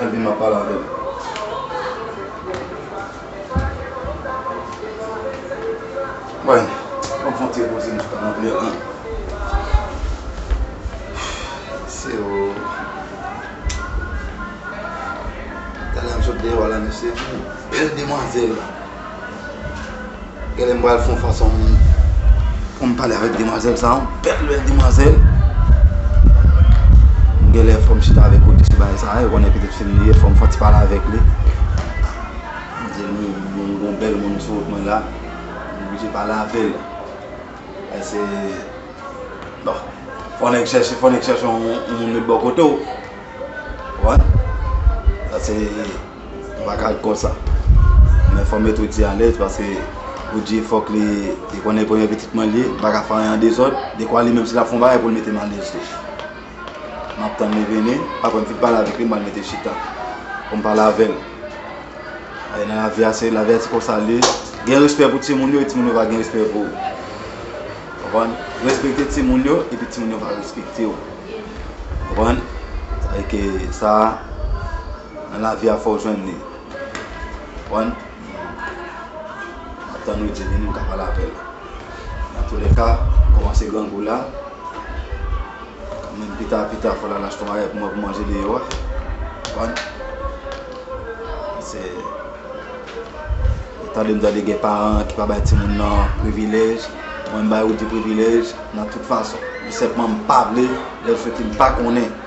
Al vin map pale avew. Woy banm fon ti repoze m toutan anpil an. Mesye oo. Talè m sot deyo a la mesye. Bel demwazel. Gèlè m pral fon fason m Pou m pale avèk demwazèl sa yon bèl bèl demwazèl Gèlè fòm chita avèk kote sou bagay sa yo konnen petèt fim li ye fòm fon ti pale avèk li M di l m gon bèl moun sou wout mwen la m oblije pale avèl e se bon fon nèg chèche fon nèg chèche yon moun met bò kote w wè sa se Nou pa ka konsa. Men fò met Oudjie alèz paske Oudjie fòk li konnen premye pitit mwen li ye, li pa ka fè anyen an dezòd, dekwa li menm si l ap fè yon bagay pou l mete m alèz tou. M ap tann li vini, aprè m fin pale avèk li m pral mete l chita pou m pale avè l. Bagay nan lavi a se, lavi a se konsa l ye. Gen respè pou timoun yo e timoun yo va gen respè pou ou. Konprann? Respekte timoun yo epi timoun yo va respekte ou. Konprann? Sa vle di ke sa. Nan lavi a fòw jwenn li konprann map tann ou Jenny nou ka pale aprè nan tou lèka ou kòmanse grangou la men pita pita fòl al achte yon bagay pou mwen pou manje deyò a konprann se ou tandem tande gen paran ki pa bay timoun nan privilèj mwen m bay Roody privilèj nan tout fason men senpman m pavle lèl soti m pa konnen.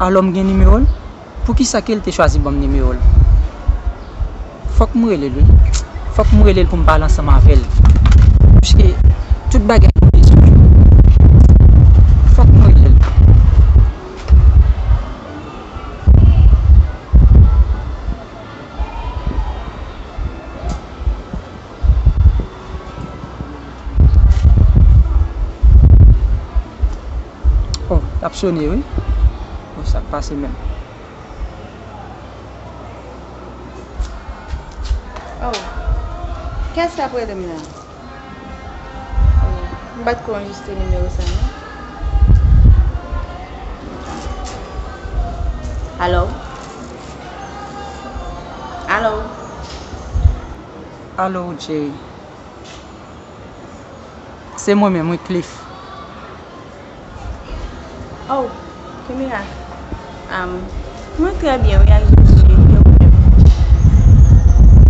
Alò m gen nimero l? Poukisa ke l te chwazi ban m nimero l? Fòk m rele l wi. Fòk m rele l pou m pale ansanm avè l. Pske tout bagay m bezwen yo nan men l. Fòk m rele l. Oh lap sone wi. Bon sak pase menm. Oh kiyès kap relem la. Oh m pat ko anjistre nimewo sa non. Alo Alo Alo Jay. Se mwen menm wi Cliff. Oh Kimia am mwen trè byen wi ak Jezi e ou menm?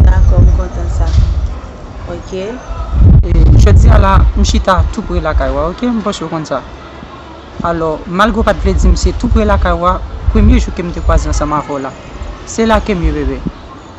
Dakò m kontan sa ok. Jodi a la m chita tou pre lakay wa ok m panse ou konn sa. Alò malgre ou pat vle di m se tou pre lakay wa premye jou ke m te kwaze ansanm avè w la se la ke m ye bebe.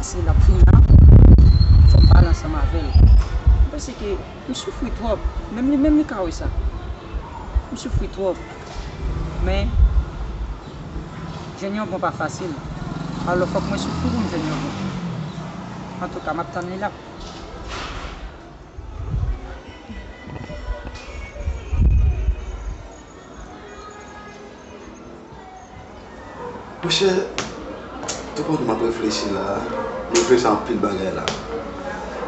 Ase lap vin la fok m pale ansanm avel m panse ke m soufri trop menm li menm li ka wesa m soufri trop men jwenn yon bon pa fasil alo fok mwen soufri pou m jwenn yon bon antouka map tann li la. Mon chè, tout moun m ap reflechi la, m reflechi a anpil bagay la.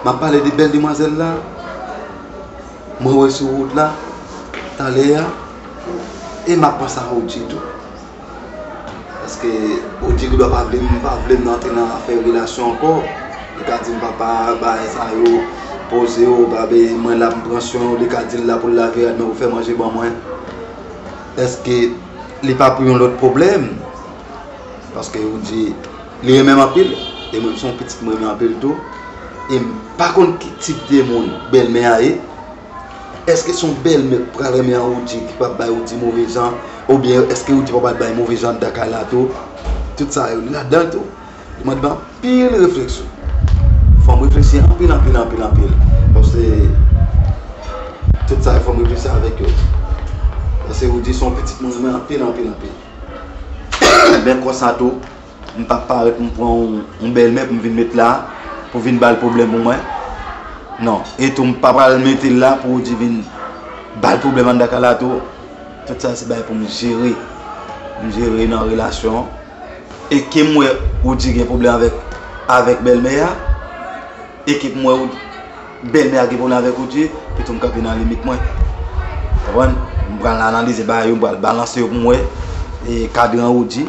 M ap pale de bèl demwazèl la, mwen wè sou wout la, talè a, e m ap panse a Roodji tou. Paske Bondye gendwa pa vle m pa vle m antre nan afè relasyon ankò. Li ka di m papa bagay sa yo poze w pa vle mwen la pou m pran swen w. Li ka di l la pou l lave rad mwen pou l fè manje ban mwen. Eske li pa pou yon lòt pwoblèm? Paske ou di li renmen m anpil e mwen m se yon pitit m renmen anpil tou. E m pa konn ki tip de moun bèlmè a ye. Eske son bèlmè k pral renmen an Roody ki pap bay Roody move jan oubyen eske Roody pa pral bay move jan anndan kay la tou tout sa yo ladan tou li mande anpil refleksyon fòm reflechi anpil anpil anpil anpil paske tout sa yo fòm reflechi avèk yo paske Roody son pitit mwen renmen anpil anpil anpil men konsa tou. M pap parèt m pran yon bèlmè pou m vin met la pou vin ba l pwoblèm pou mwen. Non. E tou m pa pral mete l la pou ou di vin ba l pwoblèm anndan kay la tou. Tout sa se bagay pou m jere. M jere nan relasyon an. E ke m wè ou di gen pwoblèm avèk avèk bèlmè a. E ke m wè ou bèlmè a gen pwoblèm avèk ou tou. E tou m kanpe nan limit mwen. Konprann? M pral analize bagay yo, m pral balanse yo pou m wè. E kadran ou di.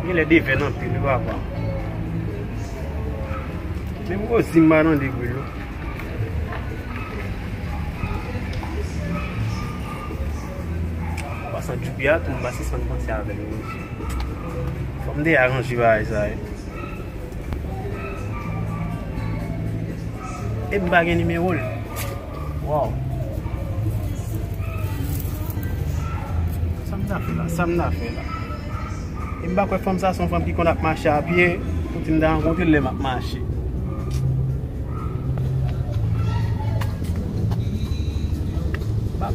Ou genlè devèn anpil wi papa. Menm Rosie m pa tande bril non. Anpasan Djoubya a tou m pa sispann panse avèl wi mesye. Fòk m te aranje bagay sa wi. Epi m pa gen nimewo l. Waww Sam ta fè la Sam ta fè la Em pa kwè fanm sa son fanm ki konn ap mache a pye Pou ti m ta rankontrel lem ap mache Bab.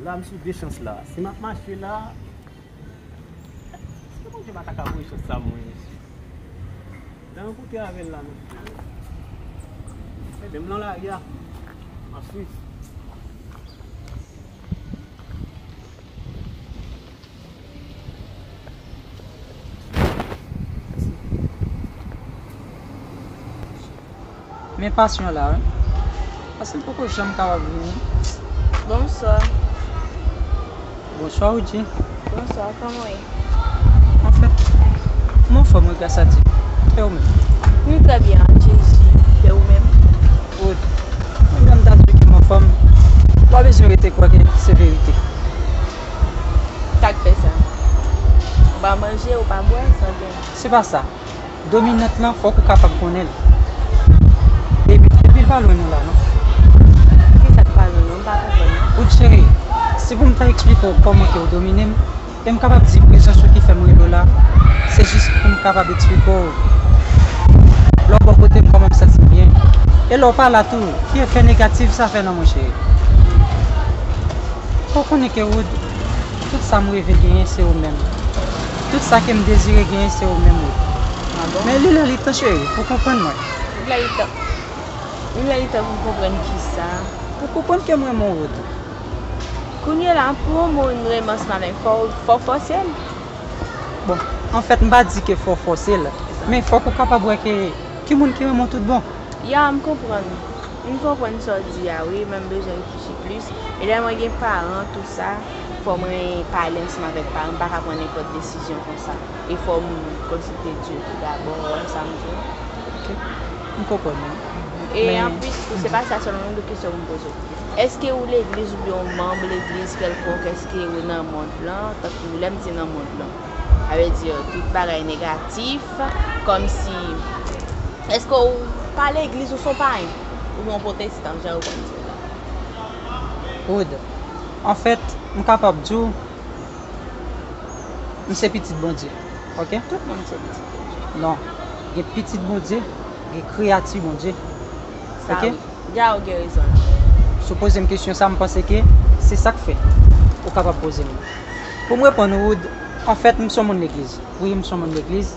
La m sou de chans la. Si map mache la. Eske Bondye pa ta ka voye chans sa mwen mesye. Nan yon kote avèl la mesye. Ede m lan la ria. An swis. Men passion la wi. Passion m poko janm kapab vini. Bonswa. Bonswa ou di. Bonswa koman ou ye. Mwen fè. Mwen anfòm wi gras a Dye. E ou menm. Nou trè byen ak Jezi. E ou menm. Ou menm. Mwen menm ta di w ke m anfòm. Ou pa bezwen rete kwè ke se verite. Sa k fè sa? Ou pa manje, ou pa bwè, san gen. Se pa sa. Dominant lan fòk ou kapab konnen l. Epi, epi l pa lwen nou la non. Ki sa k pa lwen nou? M pa konprann non. Good cheri, si pou m ta eksplike w kòman ke ou domine m, e m kapab di prezans ou ki fè m rele w la, se jis pou m kapab eksplike w lè w bò kote m kòman m santi m byen, e lè w pa la tou, ki efè negatif sa fè nan mwen cheri. Fòw konnen ke Wood tout sam reve genyen se ou menm tout sa kem dezire genyen se ou menm Wood men li lè li tan cheri pou konprann mwen. Li lè li tan Li lè li tan pou m konprann kisa? Pou konprann kem renmen w Wood. Kounye la pou yon moun renmen w spa menm fòw fòw fòsel. Bon anfèt m pa di ke fòw fòsel men fòk ou kapab wè ke ki moun ki renmen w tout bon. Ya m konprann. M konprann sa w di a wi men m bezwen reflechi plis e lè mwen gen paran tou sa fò mwen pale ansanm avèk paran m pa ka pran nenpòt desizyon konsa e fò m konsilte Dye tou dabò ou wè sa m di a. Ok m konprann ou e anplis tou se pa sa sèlman men gen lòt kesyon pou m poze w èske ou legliz oubyen ou manb legliz kèlkonk èske ou nan mond lan tankou lè m di nan mond lan sa vle di tout bagay negatif kòmsi Eske ou pa legliz ou son payen? Ou byen ou potestan jan yo konn di yo la? Wood, anfèt m kapab di w m se pitit Bondye ok. Tout moun se pitit Bondye. Non, gen pitit Bondye, gen kreyati Bondye ok. Sa wi, ya ou gen rezon la. Si w poze m kesyon sa m panse ke se sak fè ou kapab poze m li. Pou m reponn ou Wood, anfèt m son moun legliz, wi m son moun legliz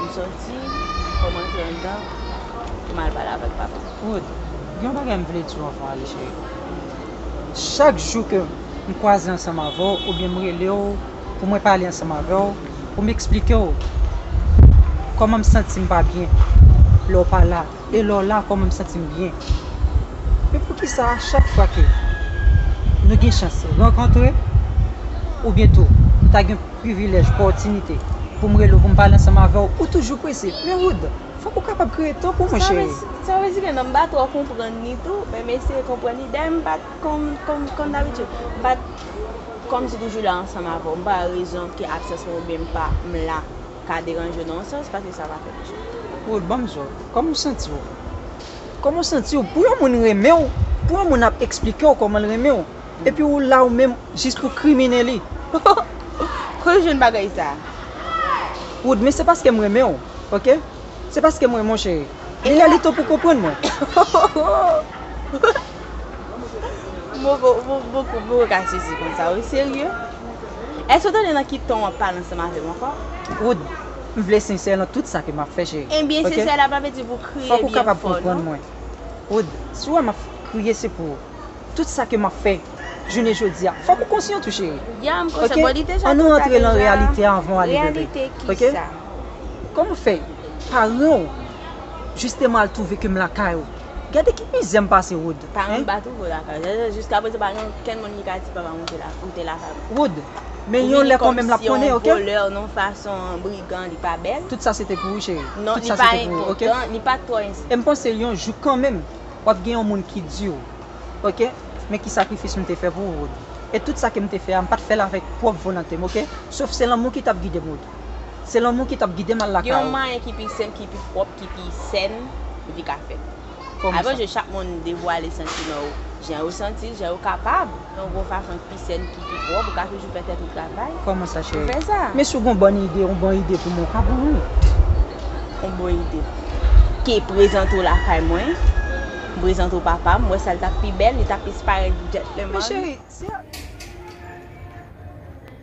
M soti fòm antre anndan pou m al pale avèk papa. Rod, gen yon bagay m vle di w anvan w ale cheri. Chak jou ke m kwaze ansanm avè w oubyen m rele w pou mwen pale ansanm avè w pou m eksplike w kòman m santi m pa byen lè w pa la. E lè w la kòman m santi m byen. Men poukisa a chak fwa ke nou gen chans rankontre ou byen tou m ta gen privilèj, pòtinite pou m rele w pou m pale ansanm avè w, ou toujou prese? Men Wood, fòk ou kapab kreye tan pou mwen cheri. Sa vle di ke non m pa twò konprann ni tou, men m eseye konprann ni. Dayè m pa t kon, kon dabitid, m pa t kòmsi toujou la ansanm avè w. M pa rezon ke absans mwen oubyen m pa, m la. ka deranje w nan yon sans paske sa pa fè misye. Woy banm sa. Kòman w santi w? Kòman w santi w pou yon moun renmen w, pou yon moun ap eksplike w kòman l renmen w, epi ou la ou menm jis pou kriminen li? Ohh kote w jwenn bagay sa? Wood, men se paske m renmen w ok, se paske m renmen w cheri. Li lè li tan pou w konprann mwen. Ohh. Moko, moko, moko ka sezi konsa wi serye? Èske w tande nan ki ton w ap pale ansanm avè m ankò? Wood, m vle sensè nan tout sa ke m ap fè, cheri. Enbyen, sensè la pa vle di pou kriye byen fò, non. Fòk ou kapab konprann mwen. Wood, si w wè m ap kriye se pou tout sa ke m ap fè jounen jodi a. Fòk ou konsyan tou, cheri. Ya, m konsyan. Bon, li deja twò ta deja. An nou antre nan reyalite a anvan w ale bebe. Reyalite kisa? Kòman fè paran w jisteman al twouve ke m lakay ou? Gade ki pi zen pase Wood hein. Pa anba tou pou lakay. Zèzè jiska prezan pa gen okenn moun ki ka di papa mwen ou te lakay mwen. Wood, men yon lè konmenm lap konnen ok. Ou vini kòmsi yon voleur non fason brigan li pa bèl. Tout sa se te pou ou cheri. Non li pa enpòtan, li pat twò enpòtan. Em panse yon jou kanmenm wap gen yon moun ki diw ok men ki sakrifis m te fè pou ou Wood. E tout sa kem te fè a m pat fèl avèk pwòp volantem ok. Sof se lanmou ki tap gidem Wood. Se lanmou ki tap gidem al lakay ou. Gen yon mwayen ki pi senp, ki pi pwòp, ki pi sèn pou di ka fèt. Avan je chak moun devwale santiman yo jan yo santi l, jan yo kapab. Yon gwo fason ki pi sèn, ki pi pwòp, ou ka toujou fè tèt ou travay. Kòman sa cheri? Pou fè sa. Men si w gen yon bòn ide, yon bon ide pou mwen, w ka ban mwen. Yon bon ide. Ok, prezante w lakay mwen. M prezante w papa m. M wè sa li tap pi bèl, li tap plis parèt djètleman. Men cheri, si.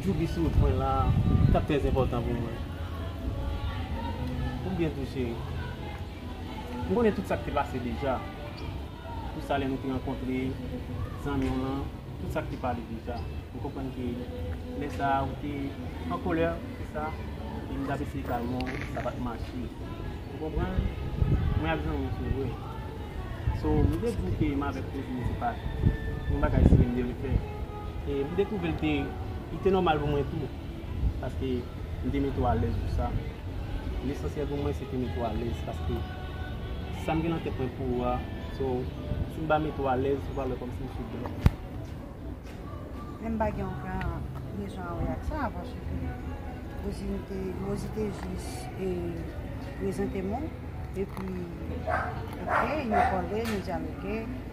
Djouby sou wout mwen la tap trè enpòtan pou mwen Ou byen tou cheri M konnen tout sak te pase deja Pou sa lè nou te rankontre zanmiw lan Tout sak te pale deja M konprann ke lè sa ou te an kolè pou sa E m tap eseye kalmew sa pat mache Ou konprann Mwen ak zanmiw se vre So m te diw ke m avèk Rosie se pat yon bagay serye m te vle fè E m dekouvri l te, li te nòmal pou mwen tou. Paske m te mete w alèz pou sa. Lesansyèl pou mwen se te mete w alèz. Paske sa m gen nan tèt mwen pou ou a, so, si m pa mete w alèz, ou va wè kòmsi m sou dwòg. Men m pa gen oken rezon a wè ak sa, paske Rosie m te, Rosie te jis e prezante m ou. Epi, ok, nou pale, nou dyaloge.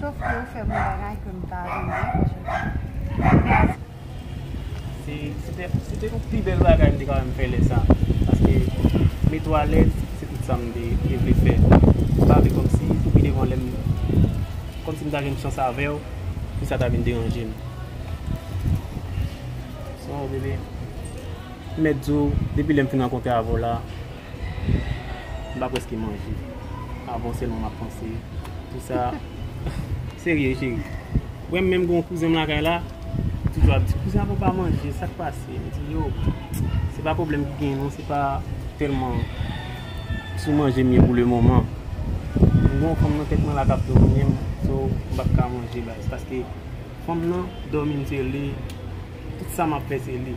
Sof ke ou fè m yon bagay ke m pa renmen paske m pa renmen. Se te yon pi bèl bagay m te ka wè m fè lè sa. Paske met ou alèz se tout sa m te vle fè. M pa vle kòm si pou pi devan lè m kòm si m ta jwenn chans avè w pou sa ta vin deranje m. Sof bebe m mèt di w depi lè m fin rankontre avè w la. M pa preske manje avan w selman map panse pou sa Serye cheri Wem menm gen yon kouzen m lakay la li toujou ap di kouzen avan w pa manje sak pase m di yo se pa pwoblem ki gen non se pa telman sou manje m ye pou le moman m gen yon fanm nan tet mwen la kap domine m so m pap ka manje baz paske fanm nan domine m se li tout sa map fe se li.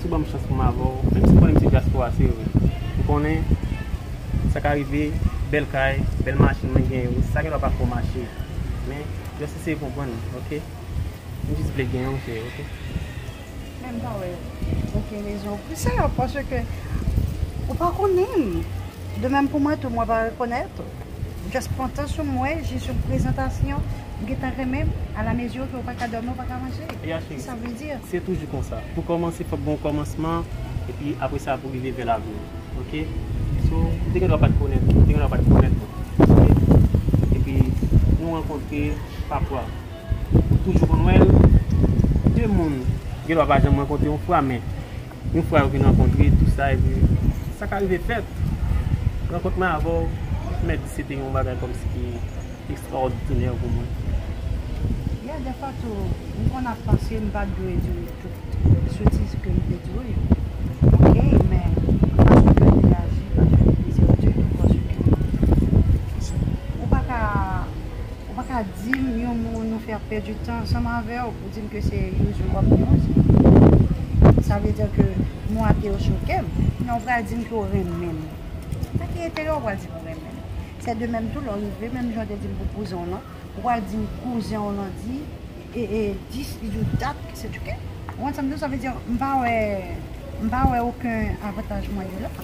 Si w ban m chans pou m avè w, menm si m konnen m se dyaspora se vre, m konnen sa ka rive, bèl kay, bèl machin mwen gen yo, sa gen dwa pa fè w mache. Men, just eseye konprann m, ok? M jis vle genyen w, cheri, ok? Men m pa wè okenn rezon pou sa, paske ou pa konnen m. De menm pou mwen tou, mwen pa rekonèt ou. M just pran tan sou m wè jis yon prezantasyon m gentan renmen m a la mezi ke ou pa ka dòmi ou pa ka manje kisa sa vle di. Se toujou konsa pou kòmanse fòk gen yon kòmansman epi aprè sa pou rive vè lavni ok so ou te gendwa pat konnen ou te gendwa pat konnen mwen ok epi nou rankontre pa fwa ou toujou konn wè l 2 moun gendwa pa janm rankontre yon fwa men. Yon fwa yo fin rankontre tou sa epi sa ka rive fèt. Rankont mwen avè w mèt di se te yon bagay kòmsi ki ekstrawòdinè pou mwen. Yeah, dèfwa tou m konn ap panse m pa t dwe di w tout sotiz ke m te di w yo. Ok, men fason ke w te aji pa t fè m plezi ditou paske ou pa ka ou pa ka di m yon mo nou fè ap pèdi tan ansanm avè w. Di m ke se you jou wap gen yon jou. Sa vle di ke mo a te yo choke m. Nan ou pral di m ke ou renmen m. Nan ki enterè ou pral di m ou renmen m? Se de menm tou lè ou rive menm jan ou te di m pou kouzen w lan, ou pral di m kouzen w lan di e dis li di w dat ke se tchouke. Ou konprann sa m di w? Sa vle di m pa wè, m pa wè oken avantaj mwen gen la.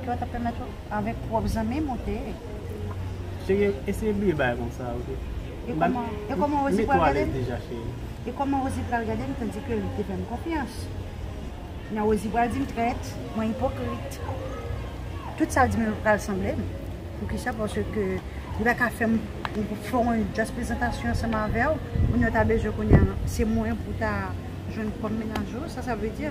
Ke w ta pèmèt ou avèk pwòp zanmi m ou te. Eseye bliye bagay konsa ok. E kòman Rosie pral gade m? E kòman Rosie pral gade m tandike li te fè m konfyans? Nan Rosie pral di m trèt, mwen ipokrit. Tout sa l di m yo pral sanble m. Poukisa? Paske li pa ka fè m fè yon jas prezantasyon ansanm avè w. Moun yo ta bezwen kounye a se mwen pou ta jwenn kòm menaj ou. Sa sa vle di?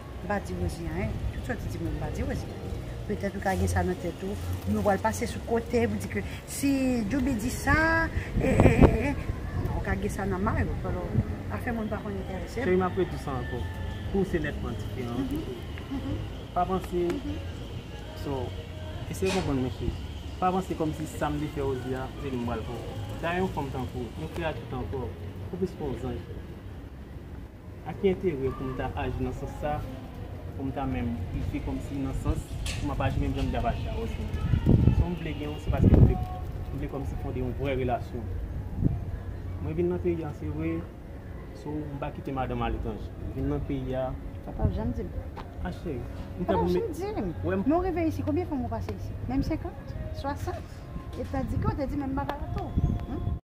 M pa di Rosie anyen, tout sa w te di mwen m pa di Rosie anyen. Petèt ou ka gen sa nan tèt ou, men ou pral pase sou kote pou di ke si Djouby di sa, e e e e. Non, ou ka gen sa nan may ou, alò afè moun pa konn enterese m. Cheri m ap redi sa ankò, pou ou se nètman diferan an tou tou. Pa panse, so, eseye konprann mwen cheri, pa panse kòmsi sa m te fè Rosie a, se li m pral fè w. Dayè yon fanm tankou w, yon kreyati tankou w, ou plis pa yon zanj. A ki enterè pou m ta aji nan sans sa, pou m ta menm pifye kòmsi nan sans m ap aji menm jan m te ap aji avan si m vle? Son m vle gen w se paske m vle m vle kòmsi fonde yon vrè relasyon. Mwen vin nan peyi an se vre, so m pa kite madanm aletranje. M vin nan peyi a. Sa w pa ap janm di m. A cheri, m ta pou m. Sa w pa ap janm di m. Wè m. Men w rive isi, konbyen fwa m ou pase isi? Menm senkant? Swasant? E w ta di ke w te di men m pa ka la tou.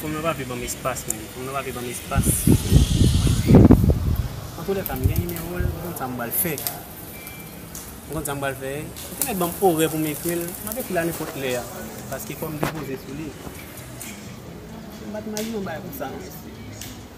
Fon nan papye banm espas menm. Fon nan papye banm espas silvouplè. An tou lèka m gen nimewo l, m konn sa m pral fè. M konn sa m pral fè. Ou te mèt banm orè pou m ekri l, m ap ekri l a nenpòt lè a. Paske fò m depoze sou li. M pa t imajine yon bagay konsa non mesye.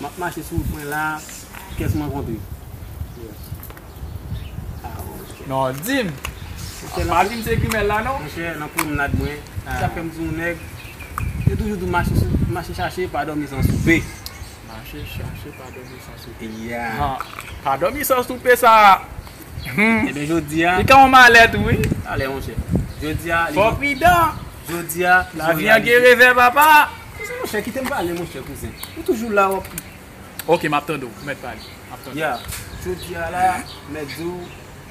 Map mache sou pwen la Kès mwen kontre Non dim Pa dim se grimèl la non Monchè nan pwomnad mwen Sa fèm di yon nèg Yo toujou di mache chache pa dòmi san soupe Mache chache pa dòmi san soupe Pa dòmi san soupe sa Ebyen jodi a Li ka yon malè tou wi Alè monchè Jodi a Fò pridan Jodi a Lavi an gen revè papa Kouzen monchè kite m pale monchè kouzen ou toujou la wap. Ok map tande w ou mèt pale map tande w. Ya jodi a la mèt di w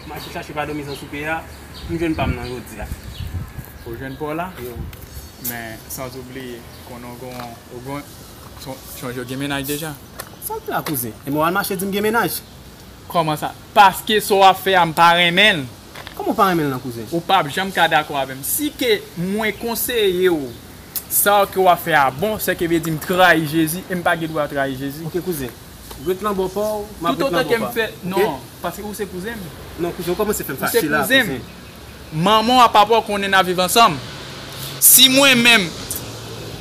mache chache pa domi san soupe a m jwenn pa m nan jodi a. Ou jwenn pa w la men sans ou bliye konnen w gon ou gon son je w gen mennaj deja. Sa w di la kouzen e men w al mache di m gen mennaj. Kòman sa paske sa w ap fè a m pa renmen l. Kòman w pa renmen l nan kouzen. Ou pap janm ka dakò avè m si ke mwen konseye w. Sa ke w ap fè a bon, sè ke vle di m trayi Jezi e m pa gen dwa trayi Jezi. Ok kouzen, ret lan bò pa w, m ap ret lan bò pa m. Non, paske ou se kouzen m. Non kouzen, ou kòmanse fè m fache la kouzen. Ou se kouzen m. Manman w ak papa w konnen n ap viv ansanm. Si mwen menm,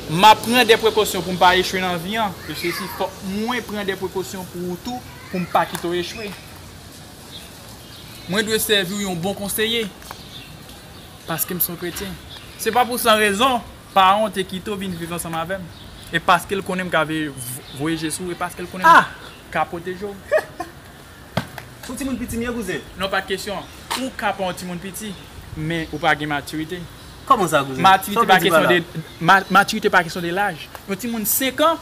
m ap pran de prekosyon pou m pa echwe nan vi an, e sesi, fòk mwen pran de prekosyon pou ou tou, pou m pa kite w echwe. Mwen dwe sèvi w yon bon konseye. Paske m s on kretyen. Se pa pou san rezon paran w te kite w vin viv ansanm avè m. E paske l konnen m ka voye je sou w e paske l konnen m ka pwoteje w. S on timoun piti m ye kouzen. Non pa kesyon an. Ou ka pa on timoun piti, men ou pa gen matirite. Kòman sa kouzen? Sa w vle di pa la? Matirite pa kesyon de laj. Yon timoun senkan.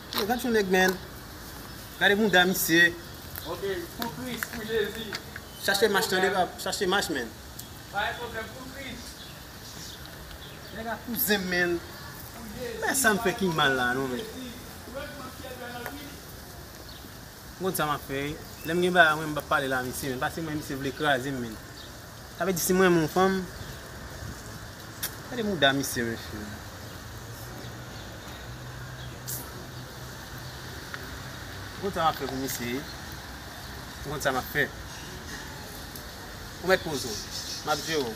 Yo gad yon nèg menn. Gade mouda misye. Ok pou kris pou jezi. Chache mach tande bab chache mach menn. Pa gen pwoblèm pou kris. Nèg la kou zen menn. Pou jezi. Bagay sa m fè ki mal la non menn. Ou wè kman syèl bèl anpil. M konn sa map fè wi. Lèm gen bagay mwen m pap pale la misye menn pase mwen misye vle krazem menn. Sa vle di si m renmen yon fanm. Gade mouda misye mesye. M konn sa map fè pou misye. M konn sa map fè. Ou met poz ou. Map jere w.